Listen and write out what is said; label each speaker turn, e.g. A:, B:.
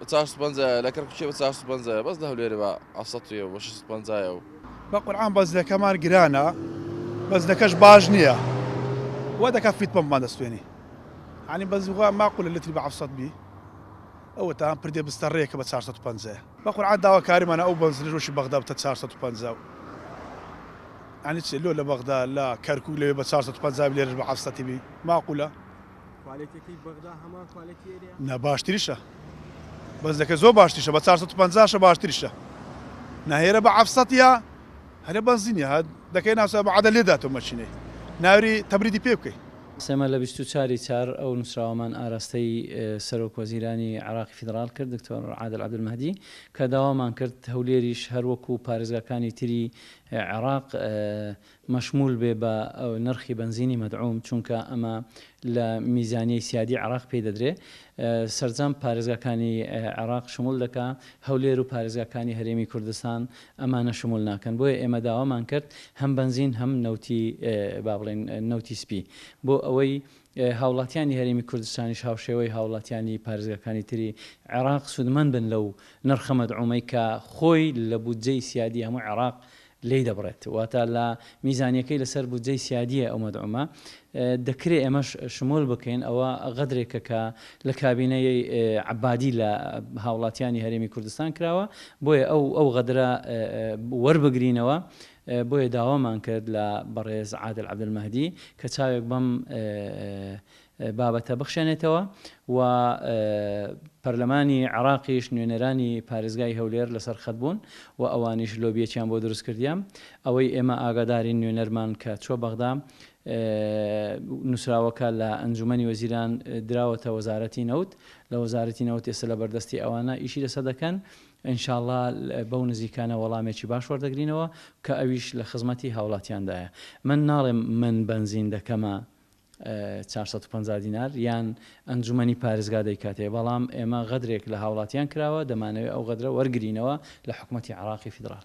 A: بە چار سەد پەنجایە لە کەرکوکێ بە چار سەد پەنجایە بەس لە هەولێرێ بە هەفت سەد و شەش سەد پەنجایە. بە قورعان بەنزلەکەمان
B: گرانە بەنزلەکەش باش نیە وا دەکا فیت پەمپمان دەستێنی یانی بەنزل وا ماقولە لتری بە هەفت سەد بی ئەوەتان پردێ بستەڕێ کە بە چار سەد و پەنجایە بە قورعان داواکاریمانە ئەو بەنزلەش وەکی بەغدا بتە چار سەد و پەنجا و یانی چ لۆ لە بەغدا لە کەرکوک لەوێ بە چار سەد و پەنجا بی لێرەش بە هەفت سەد بی ماقولە. کوالێتیەکەی بەغدا هەمان کوالێتی ئێرەیە؟ نا باشتریشە بەس لەکە زۆر باشتریشە بە چار سەد و پەنجا شە باشتریشە نا هێرە بە عەف سەتیە هەرە بەنزینی هات دەکەی ناسا بە عەدە لێ داتۆ مەچینەی ناوری تەبریدی پێ بکەی. سێ مەلە بیست و
C: چار ی چار ئەو نوسراوەمان ئاراستەی سەرۆک وەزیرانی عێراقی فیدڕاڵ کرد دکتۆر عادل عەبدولمەهدی کە داوامان کرد هەولێریش هەر وەکو پارێزگاکانی تری عێراق مەشموول بێ بە نرخی بەنزینی مەدعووم، چونکە ئەمە لە میزانیەی سیادی عێراق پێی دەدرێ. سەرجەم پارێزگاکانی عێراق شموول دەکا، هەولێر و پارێزگاکانی هەرێمی کوردستان ئەمانە شموول ناکەن. بۆیە ئێمە داوامان کرد هەم بەنزین هەم نەوتی با بڵێین نەوتی سپی بۆ ئەوەی هاوڵاتیانی هەرێمی کوردستانیش هاوشێوەی هاوڵاتیانی پارێزگاکانی تری عێراق سوودمەند بن لەو نرخە مەدعوومەی کە خۆی لە بودجەی سیادی هەموو عێراق لێی دەبڕێت واتە لە میزانیەکەی لەسەر بودجەی سیادیە ئەومەدعومە دەکرێ ئێمەش شمول بکەین ئەوە غەدرێکە کە لە کابینە ی عەبادی لە هاوڵاتیانی هەرێمی کوردستان کراوە بۆیە ئەو ئەو غەدرە وەربگرینەوە بۆیە داوامان کرد لە بەڕێز عادل عەبدولمەهدی کە چاوێک بەم بابەتە بخشێنێتەوە و پەرلەمانی عێراقیش نوێنەرانی پارێزگای هەولێر لەسەر خەت بوون و ئەوانیش لۆبیەکیان بۆ دروست کردیە ئەوەی ئێمە ئاگادارین نوێنەرمان کە چوە بەغدا نوسراوەکە لە ئەنجومەنی وەزیران دراوەتە وەزارەتی نەوت لە وەزارەتی نەوت ئێستا لە بەردەستی ئەوانە ئیشی لەسە دەکەن ئینشاءاللە بەو نزیکانە وەڵامێکی باش وەردەگرینەوە کە ئەویش لە خزمەتی هاوڵاتیاندایە من ناڵێم من بەنزین دەکەمە چوار سەد و پەنجا دینار یان ئەنجومەنی پارێزگا دەیکاتێ بەڵام ئێمە غەدرێک لە هاوڵاتیان کراوە دەمانەوێ ئەو غەدرە وەرگرینەوە لە حکومەتی عراقی فیدراڵ.